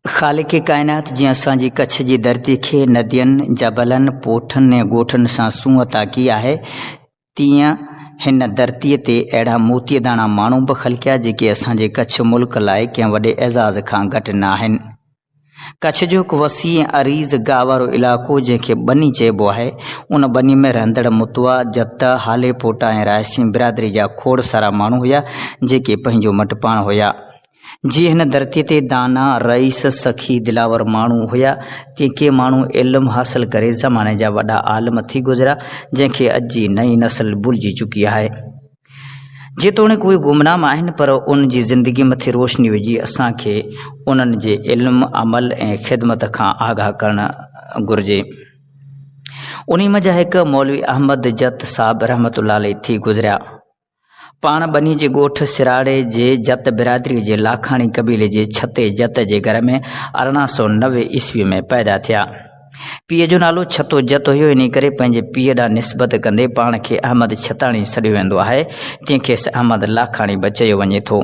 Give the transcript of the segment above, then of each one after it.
خالق ڪائنات جنهن اسان جي ڪڇ جي ڌرتي کي ندين، جبلن، پوٺن ۽ ڳوٺن سان سونهن عطا ڪئي آهي، تيئن هن ڌرتيء تي اهڙا موتيء داڻا ماڻهو به خلقيا، جيڪي اسان جي ڪڇ ملڪ لاء ڪنهن وڏي اعزاز کان گهٽ نه آهن. ڪڇ جو هڪ وسيع ۽ عريض گاهه وارو علائقو جنهن کي ٻني چئبو آهي، ان ٻني ۾ رهندڙ متوا، جت، هالي پوٽا ۽ رائسين برادري جا کوڙ سارا ماڻهو هيا، جيڪي پنهنجو مٽ پاڻ هيا. جيئن هن ڌرتيء تي دانا، رئيس، سخي، دلاور ماڻهو هيا، تيئن ڪي ماڻهو علم حاصل ڪري زماني جا وڏا عالم ٿي گذريا، جنهن کي اڄ جي نئين نسل ڀلجي چڪي آهي. جيتوڻيڪ اهي گمنام آهن پر انهن جي زندگي مٿي روشني وجهي اسان کي انهن جي علم، عمل ۽ خدمت کان آگاهه ڪرڻ گهرجي. انهي منجهان هڪ مولوي احمد جت صاحب رحمة الله عليه ٿي گذريا. پاڻ ٻنهي جي ڳوٺ سراڙي جي جت برادري جي لاکاڻي قبيلي جي ڇتي جت جي گهر ۾ ارڙهن سؤ نوي عيسوي ۾ پيدا ٿيا. پيء جو نالو ڇتو جت هيو، انهيء ڪري پنهنجي پيء ڏانهن نسبت ڪندي پاڻ کي احمد ڇتاڻي سڏيو ويندو آهي، جنهن کي سه احمد لاکاڻي به چيو وڃي ٿو.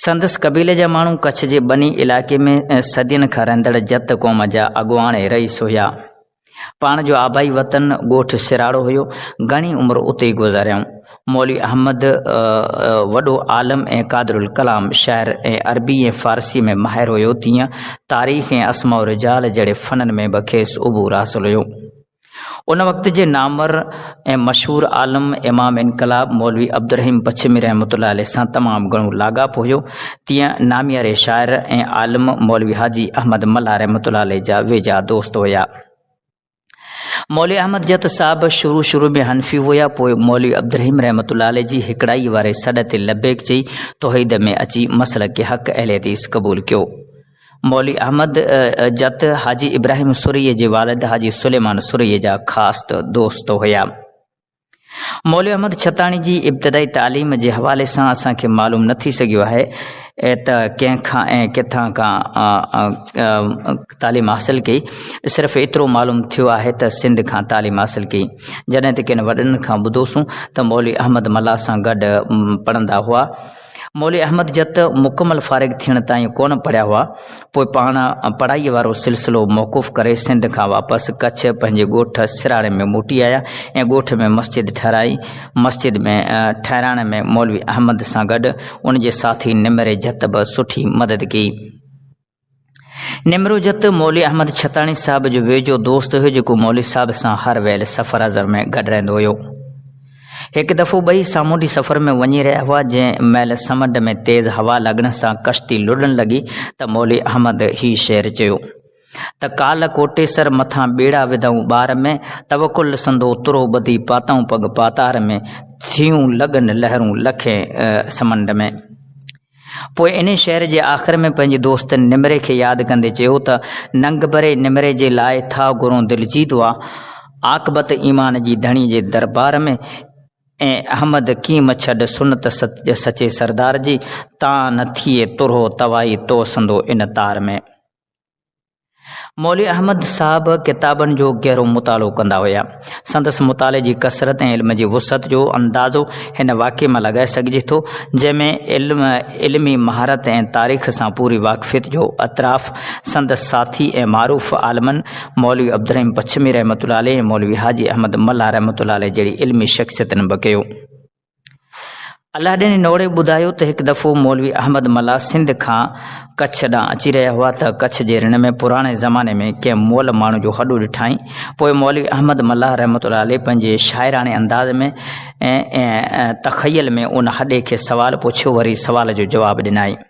سندس قبيلي جا ماڻهو ڪڇ جي ٻني علائقي ۾ صدين کان رهندڙ جت قوم جا اڳواڻ ۽ رئيس هيا. پاڻ جو آبائي وطن ڳوٺ سراڙو هيو. گهڻي عمر اتي ئي گذاريائون. مولوي احمد وڏو عالم ۽ قادر الڪلام شاعر ۽ عربي ۽ فارسي ۾ ماهر هيو تيئن تاريخ ۽ اسماء الرجال جهڙي فنن ۾ به کيس عبور حاصل هيو ان وقت جي نامور ۽ مشهور عالم امام انقلاب مولوي عبدالرحيم پڇمي رحمت الله عليه سان تمام گهڻو لاڳاپو هيو تيئن نامياري شاعر ۽ عالم مولوي حاجي احمد ملا رحمت الله عليه جا ويجها دوست هيا مولوي احمد جت صاحب شروع شروع ۾ حنفي هيا پوء مولوي عبدالرحيم رحمت الله عليه جي هڪڙائي واري سڏ تي لبيڪ چئي توحيد ۾ اچي مسئله کي حق اهل حديث قبول ڪيو مولوي احمد جت حاجي ابراهيم سري جي والد حاجي سليمان سري جا خاص دوست هيا مولوي احمد ڇتاڻي جي ابتدائي تعليم جي حوالي سان اسان کي معلوم نه ٿي سگهيو آهي ته ڪنهن کان ۽ ڪٿان کان تعليم حاصل ڪئي صرف ايترو معلوم ٿيو آهي ته سنڌ کان تعليم حاصل ڪئي جڏهن ته ڪن وڏن کان ٻڌوسون ته مولوي احمد ملاح سان گڏ پڙهندا هئا مولوي احمد جت مڪمل فارغ ٿيڻ تائين ڪونه پڙهيا هئا، پوء پاڻ پڙهائيء وارو سلسلو موقوف ڪري سنڌ کان واپس ڪڇ پنهنجي ڳوٺ سراڙي ۾ موٽي آيا ۽ ڳوٺ ۾ مسجد ٺهرائي، مسجد ۾ ٺهرائڻ ۾ مولوي احمد سان گڏ ان جي ساٿي نمري جت به سٺي مدد ڪئي. نمروجت مولوي احمد ڇتاڻي صاحب جو ويجهو دوست هيو جيڪو مولوي صاحب سان هر ويل سفر ازر ۾ گڏ رهندو هيو هڪ دفعو ٻئي سامونڊي سفر ۾ وڃي رهيا هئا جنهن مهل سمنڊ ۾ تيز هوا لڳڻ سان ڪشتي لڙڻ لڳي ته مولي احمد هي شعر چيو ته ڪال ڪوٽيسر مٿان ٻيڙا وڌائون ٻار ۾ توڪل سندو ترو ٻڌي پاتائون پڳ پاتار ۾ ٿيون لڳن لهرون لکين سمنڊ ۾ پوء انهي شعر جي آخر ۾ پنهنجي دوست نمري کي ياد ڪندي چيو ته، ننگ بري نمري جي لاء ٿا گهرون دل جي دعا، عاقبت ايمان جي ڌڻي جي دربار ۾، اي احمد ڪين مڇڏ سنت سچي سردار جي، تان نه ٿئي ترهو توائي توسندو ان تار ۾. مولوي احمد صاحب ڪتابن جو گهرو مطالعو ڪندا هيا. سندس مطالعي جي ڪثرت ۽ علم جي وسعت جو اندازو هن واقعي مان لڳائي سگهجي ٿو، جنهن ۾ علم، علمي مهارت ۽ تاريخ سان پوري واقفيت جو اعتراف سندس ساٿي ۽ معروف عالمن مولوي عبدالرحيم پڇمي رحمة الله عليه ۽ مولوي حاجي احمد ملاح رحمة الله عليه جهڙي علمي شخصيتن به ڪيو. الاڏين جي نوڙي ٻڌايو ته هڪ دفعو مولوي احمد ملا سنڌ کان ڪڇ ڏانهن اچي رهيا هئا ته ڪڇ جي رڻ ۾ پراڻي زماني ۾ ڪنهن مئل ماڻهو جو هڏو ڏٺائين پوء مولوي احمد ملا رحمت الله عليه پنهنجي شاعراڻي انداز ۾ تخيل ۾ ان هڏي کي سوال پڇيو وري سوال جو جواب ڏنائين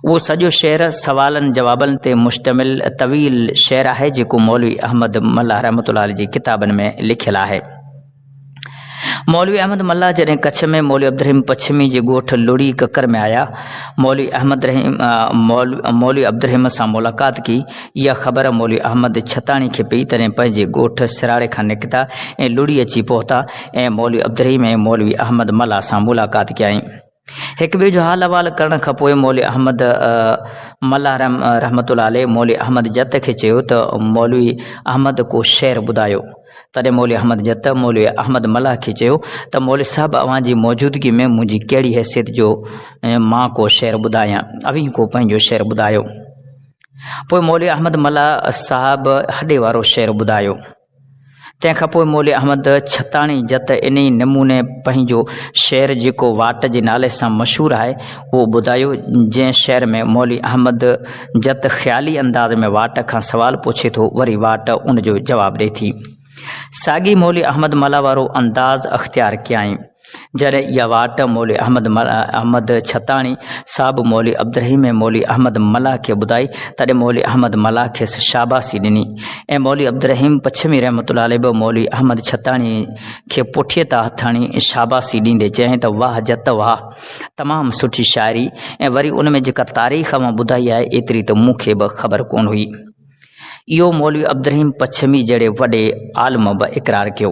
اهو سڄو شعر سوالن جوابن تي مشتمل طويل شعر آهي جيڪو مولوي احمد ملاح رحمت الله جي ڪتابن ۾ لکيل آهي مولوي احمد ملاح جڏهن ڪڇ ۾ مولوي عبدالرحيم پڇمي جي ڳوٺ لڙي ڪڪر ۾ آيا مولوي احمد رحيم مولوي عبدالرحيم سان ملاقات ڪي اها خبر مولوي احمد ڇتاڻي کي پئي تڏهن پنهنجي ڳوٺ سراڙي کان نڪتا ۽ لڙي اچي پهتا ۽ مولوي عبدالرحيم ۽ مولوي احمد ملاح سان ملاقات ڪيائين هڪ ٻئي جو حال احوال ڪرڻ کان پوء مولوي احمد ملاح رحمت الله عليه مولوي احمد جت کي چيو ته مولوي احمد ڪو شعر ٻڌايو. تڏهن مولوي احمد جت مولوي احمد ملاح کي چيو ته مولوي صاحب اوهان جي موجودگي ۾ منهنجي ڪهڙي حيثيت جو مان ڪو شعر ٻڌايان اوهين ڪو پنهنجو شعر ٻڌايو. پوء مولوي احمد ملاح صاحب هڏي وارو شعر ٻڌايو. تنهن کان پوء مولوي احمد ڇتاڻي جت انهي نموني پنهنجو شعر جيڪو واٽ جي نالي سان مشهور آهي اهو ٻڌايو، جنهن شعر ۾ مولوي احمد جت خيالي انداز ۾ واٽ کان سوال پڇي ٿو وري واٽ ان جو جواب ڏئي ٿي. ساڳي مولوي احمد ملاح وارو انداز اختيار ڪيائين. جڏهن اها واٽ مولوي احمد احمد ڇتاڻي صاحب مولوي عبدالرحيم ۽ مولوي احمد ملاح کي ٻڌائي، تڏهن مولوي احمد ملاح کيس شاباسي ڏني ۽ مولوي عبدالرحيم پڇمي رحمة الله عليه به مولوي احمد ڇتاڻي کي پٺيء تان هٿ هڻي شاباسي ڏيندي چيائين ته واهه جت واهه، تمام سٺي شاعري ۽ وري ان ۾ جيڪا تاريخ اوهان ٻڌائي آهي ايتري ته مون کي به خبر ڪونه هئي. اهو مولوي عبدالرحيم پڇمي جهڙي وڏي عالم به اقرار ڪيو.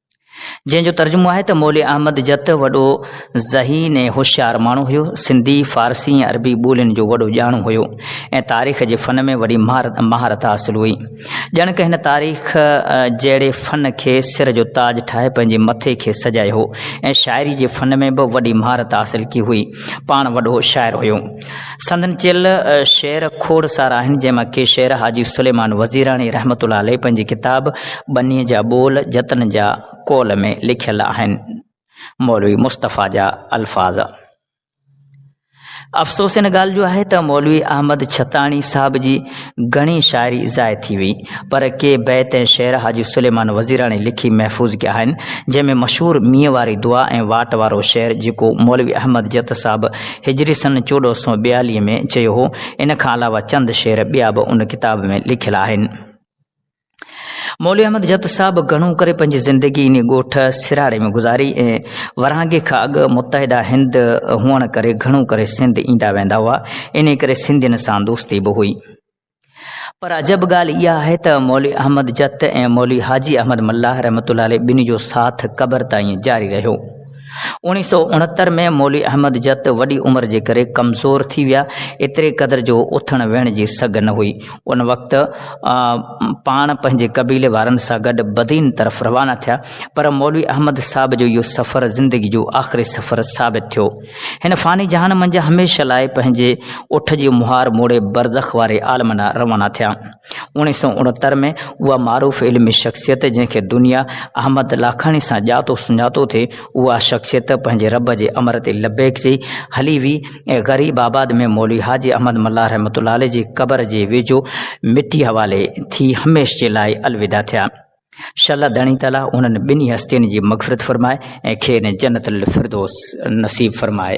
جنهن جو ترجمو آهي ته مولوي احمد جت وڏو ذهين ۽ هوشيار ماڻهو هيو، سنڌي، فارسي ۽ عربي ٻولين جو وڏو ڄاڻو هيو ۽ تاريخ جي فن ۾ وڏي مهارت حاصل هئي. ڄڻڪ هن تاريخ جهڙي فن کي سر جو تاج ٺاهي پنهنجي مٿي کي سجايو هو ۽ شاعري جي فن ۾ به وڏي مهارت حاصل ڪئي هئي. پاڻ وڏو شاعر هيو. سندن چيل شعر کوڙ سارا آهن، جنهن مان ڪي شعر حاجي سليمان وزيراڻي رحمة الله عليه پنهنجي ڪتاب ٻنيء جا ٻول جتن جا قول ۾ لکيل آهن. مولوي مصطفيٰ جا الفاظ. افسوس ان ڳالهه جو آهي ته مولوي احمد ڇتاڻي صاحب جي گهڻي شاعري ضايع ٿي وئي، پر ڪي بيت ۽ شعر حاجي سليمان وزيراڻي لکي محفوظ ڪيا آهن، جنهن ۾ مشهور مينهن واري دعا ۽ واٽ وارو شعر جيڪو مولوي احمد جت صاحب هجري سن چوڏهن سؤ ٻياليهه ۾ چيو هو، ان کان علاوه چند شعر ٻيا به ان ڪتاب ۾ لکيل آهن. مولوي احمد جت صاحب گهڻو ڪري پنهنجي زندگي انهي ڳوٺ سراڙي ۾ گذاري ۽ ورهاڱي کان اڳ متحده هند هئڻ ڪري گهڻو ڪري سنڌ ايندا ويندا هئا، انهي ڪري سنڌين سان دوستي به هئي. پر عجب ڳالهه اها آهي ته مولوي احمد جت ۽ مولوي حاجي احمد ملاح رحمة الله عليه ٻنهي جو ساٿ قبر تائين جاري رهيو. اوڻيهه سؤ اڻهتر ۾ مولوي احمد جت وڏي عمر جي ڪري ڪمزور ٿي ويا، ايتري قدر جو اٿڻ ويهڻ جي سگهه نه هئي. ان وقت پاڻ پنهنجي قبيلي وارن سان گڏ بدين طرف روانا ٿيا، پر مولوي احمد صاحب جو اهو سفر زندگي جو آخري سفر ثابت ٿيو. هن فاني جهان منجهه هميشه لاء پنهنجي اٺ جي مهار موڙي برزخ واري عالم ڏانهن روانا ٿيا. اوڻيهه سؤ اڻهتر ۾ اها معروف علمي شخصيت جنهن کي دنيا احمد لاکاڻي سان ڄاتو سڃاتو ٿي، اها شخصيت پنهنجي رب جي امر تي لبيڪ چئي هلي وئي ۽ غريب آباد ۾ مولوي حاجي احمد ملاح رحمة الله عليه جي قبر جي ويجهو مٽي حوالي ٿي هميشھ جي لاء الوداع ٿيا. شل الله ڌڻي تعاليٰ انهن ٻنهي هستين جي مغفرت فرمائي ۽ کين جنت الفردوس نصيب فرمائي.